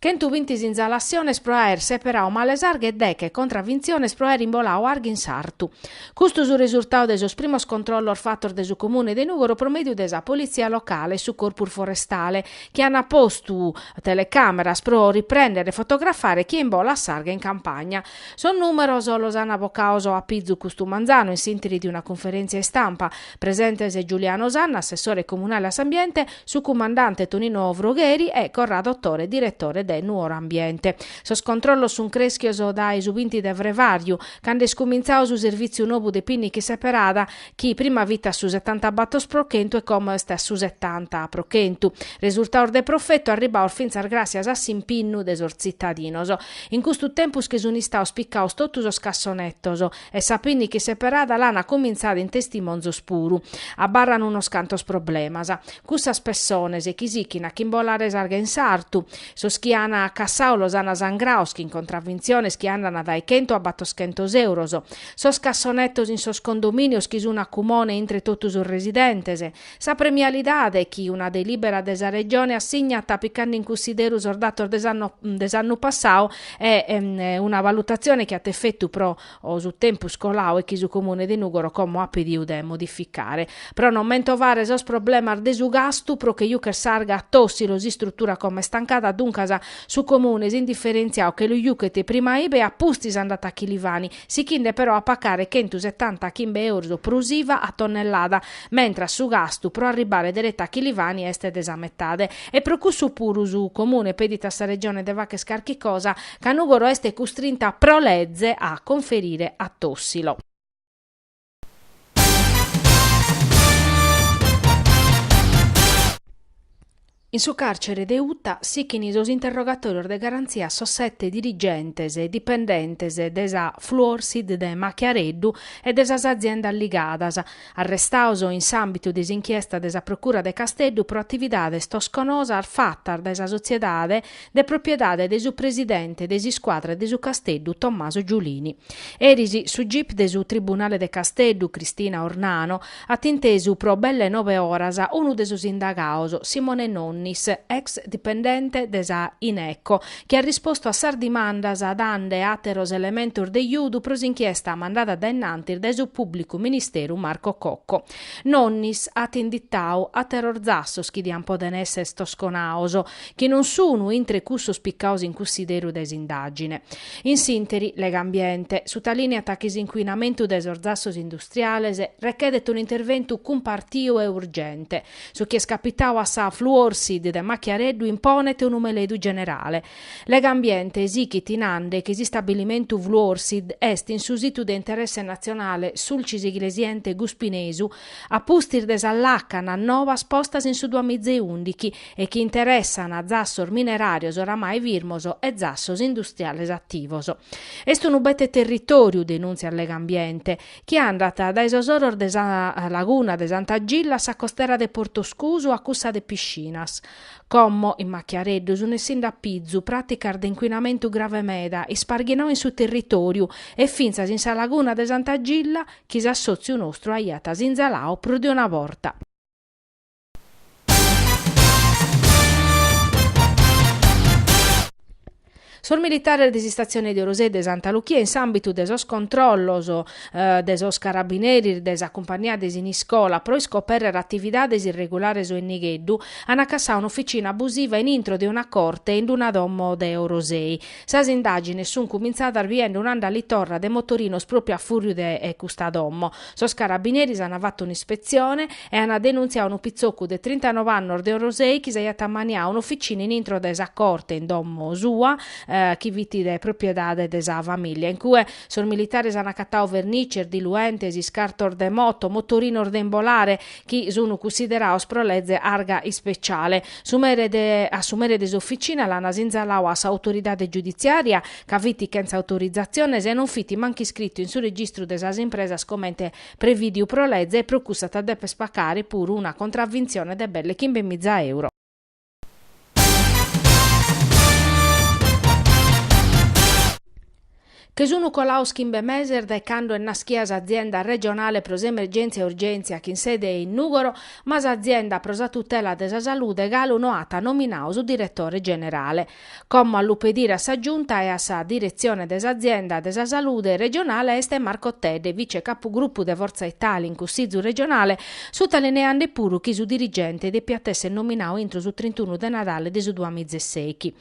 Chentu bintis sinnalassiones pro aer seperadu male s'arghe e deche contravintziones pro aer imboladu arghe in sartu. Custu su resurtadu de sos primos controllos fatos de su Comune de Nùgoro pro mèdiu de sa Politzia locale e su Corpus Forestale, chi ant postu telecàmeras pro riprèndere e fotografare chie imbolat s'arghe in campagna. Sos nùmeros los ant bocados a pizu custu manzanu in s'ìnteri de una cunferèntzia istampa, Presentes Giuliano Sanna, assessore comunale a s'ambiente, su cumandante Tonino Frogheri e Corrado Tore, diretore de Nuoro Ambiente. Sos controllos sun creschios dae su binti de frevàriu, cando est cumintzadu su servìtziu nobu de pinnica seperada, chi prima fit a su sessantabator pro chentu e como est a su setanta pro chentu. Resurtados de profetu arribbados fintzas gràssias a s'impinnu de sos tzitadinos. In custu tempus chi sun istados picados totu sos cassonetos, E sa pinnica seperada l'an a cumintzare in Testimonzos puru. Abarran unos cantos problemas. Cussas pessones chi sichin a ch'imbolare s'arga in sartu. Sos chi an cassadu los an sangrados chin contravintziones chi andan dae chentu a battoschentos euros. Sos cassonetos in sos condominios chi sun a cumone intre totu sos residentes. Sa premialidade chi una delibera de sa Regione assignat picande in cussideru sos datos de s'annu passadu e est una valutazione chi at efetu pro su tempus coladu, e chi su Comune de Nugoro como at pedidu de modificare pro non mentovare sos problemas de su gastu pro che jucher s'arga a Tossilo s'istrutura como est tancada duncas su Comune s'indifferentziadu che lu juchet prima ibe e a pustis andat a Chilivani sichinde però a pacare chentu setanta chimbe euros prus iva a tonnellada, mentras su gastu pro arribbare dereta a Chilivani est de sa metade. E pro cussu puru su Comune pedit a sa Regione de fagher carchi cosa, ca Nugoro est custrinta pro leze a conferire a Tossilo. In su càrcere de Uta sichint sos interrogatòrios de garantzia sos sete dirigentes e dipendentes de sa Fluorsid de Machiareddu e de sas aziendas ligadas, arrestados in s'àmbitu de s'inchiesta de sa Procura de Casteddu pro atividades tosconosas fatas dae sa sotziedade de propiedade de su presidente de s'iscuadra de su Casteddu Tommaso Giulini. Eris su gip de su Tribunale de Casteddu Cristina Ornano at intesu pro belle nobe oras unu de sos indagados, Simone Nonnis, ex dipendente de sa Ineco, chi at rispostu a sas dimandas dande àteros elementos de iudu pro s'inchiesta mandada dae innantis dae su pùblicu ministeru Marco Cocco. Nonnis at inditadu àteros zassos chi diant pòdere èssere tosconados, chi non sunu intre cussos picados in cussideru dae s'indàgine. In s'ìnteri, Legambiente sutalìneat chi s'incuinamentu dae sos zassos industriales rechedet un interventu cumpartiu e urgente. Su chi est capitadu a sa Fluorsid de Machiareddu imponet unu meledu generale. Legambiente sichit nande chi s'istabilimentu Fluorsid est in su situ de interesse natzionale Sulcis Iglesiente Guspinesu a pustis de sas làcanas novas postas in su duamizeundichi e chi interessan zassos mineràrios oramai firmos e zassos industriales ativos. Est unu bete territòriu, denùntziat Legambiente, chi andat dae sos oros de sa laguna de Santa Gilla a sa costera de Portoscusu a cussa de Piscinas. Como in Machiareddu sun essinde a pizu pràticas de incuinamentu grave meda isparghinau in su territòriu e fintzas in sa laguna de Santa Gilla chi s'assòtziu nostru aiat sinzalau prus de una borta. Sos militares de s'istatzione de Orosei e de Santa Luchia in s'àmbitu de sos controllos de sos carabineris de sa cumpagnia de Siniscola pro iscoperrer atividades irregulares o in nigheddu an cassau un'oficina abusiva in intro de una corte in una domo de Orosei. Sas indàgines sunt cumintzadas biende un'andalitorra de motorinos pròpiu a fùrriu de custa domo. Sos carabineris ana fattu un'ispetzione e ana denunziau unu pizzoccu de trintanove annos de Orosei chi s'aiat ammaniau un'officina in intro de sa corte in domo sua, chi fit de propiedade de sa familia. In cue sos militares ana accattau vernices, diluentes, iscartos de moto, motorinos de imbolare, chi sunu cussiderados pro leze arga ispeciale. A su mere de s'officina l'ana sinzalau a s'autoridade giudiziaria ca fit chentza autorizatziones e non fit mancu iscritu in su registru de sas impresas comente prevìdiu pro leze e pro custu at a dèpere pacare puru una contravvintzione de belles chimbe miza euro. Che sun colados chimbe meses dae cando est naschia s'Azienda Regionale pro s'Emergèntzia e Urgèntzia chin sede in Nùgoro, ma s'Azienda pro sa Tutela de sa Salude galu no at nominadu su diretore generale. Como a lu pedire a sa Giunta e a sa Diretzione de s'Azienda de sa Salude regionale est Marco Tedde, vice-capugrupu de Fortza Italia in Cussizu regionale, sutalineande puru chi su dirigente depiat èssere nominadu intro su trintunu de Nadale de su duamizesechi.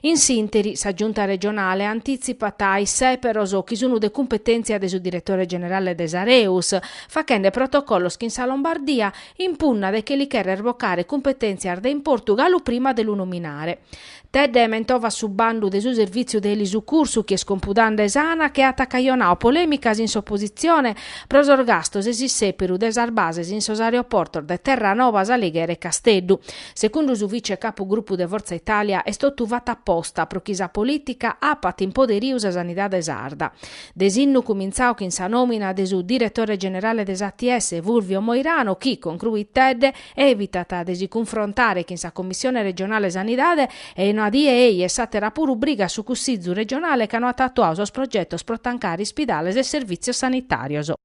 In s'interi, sa Giunta regionale antitzipat sèperos chi sunu de cumpetèntzia de su diretore generale de s'Areus, fachende protocollos chin sa Lombardia, impunna de che li cherrer bocare cumpetèntzias de importu galu prima de lu nominare. Tedde mentovat su bandu de su Servìtziu de Elisucursu chi est compudande s'Anac che at cajonau polèmicas in s'opositzione pro sos gastos e s'issèperu de sas bases in sos aeroportos de Terranova, S'Alighera e Casteddu. Segundu su vice capugrupu de Fortza Italia est totu fatu aposta pro chi sa polìtica apat in poderiu sa sanidade sarda. disinnu cumintzau chin sa nòmina de su diretore generale de s'ATS Fulvio Moirano chi, concruit Tedde, evitat de si cunfrontare chin sa Commissione regionale Sanidade e una die ei e s'àtera puru brigat su Cussizu regionale ca no at atuau sos progetos pro tancare ispidales e servìtzios sanitàrios.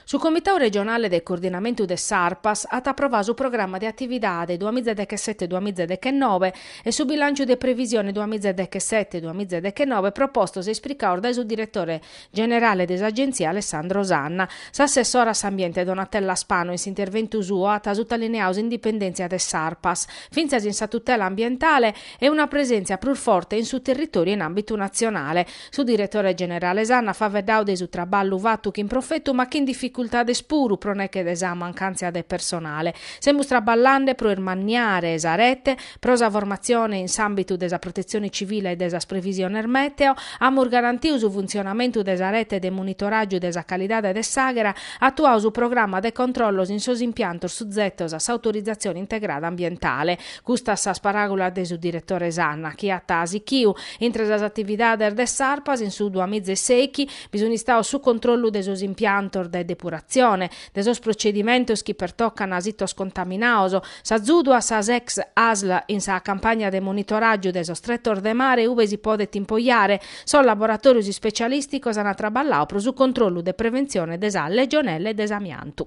Su Comitadu Regionale de Coordinamentu de s'Arpas at aprovadu su Programma de Atividade duas mìgia dechesete-duas mìgia dechenobe e su Bilànciu de Previsione duas mìgia dechesete-duas mìgia dechenobe propostos e ispricados dae su Diretore generale de s'Agenzia Alessandro Sanna. S'assessora a s'Ambiente Donatella Spano in s'interventu suo at sutalineau s'indipendèntzia de s'Arpas, fintzas in sa tutela ambientale, e una presèntzia prus forte in su territòriu e in àmbitu natzionale. Su diretore generale Sanna at faveddau de su traballu fatu chin profetu ma chin dificultades puru pro neghe de sa mancàntzia de personale. Semus traballande pro irmanniare sa rete, Pro sa formatzione in s'àmbitu de sa protetzione civile e de sas previsiones mèteo, amus garantiu su funtzionamentu de sa rete de monitoràgiu de sa calidade de s'àghera, atuau su programa de controllos in sos impiantos suzetos a s'autorizatzione integrada ambientale. Custas sas paràgulas de su diretore Sanna, chi at sichiu, intre sas atividades de s'Arpas in su duamiza e sèichi, bi sun istaos su controllu de sos impiantos de depuratzione, de sos procedimentos chi pertocan a sitos contaminaos, s'azudu a sas ex asl in sa campagna de monitoràgiu de sos tretos de mare ube si podet impoiare, sos laboratòrios ispecialìsticos an traballau pro su controllu de preventzione de sa legionella e de s'amiantu.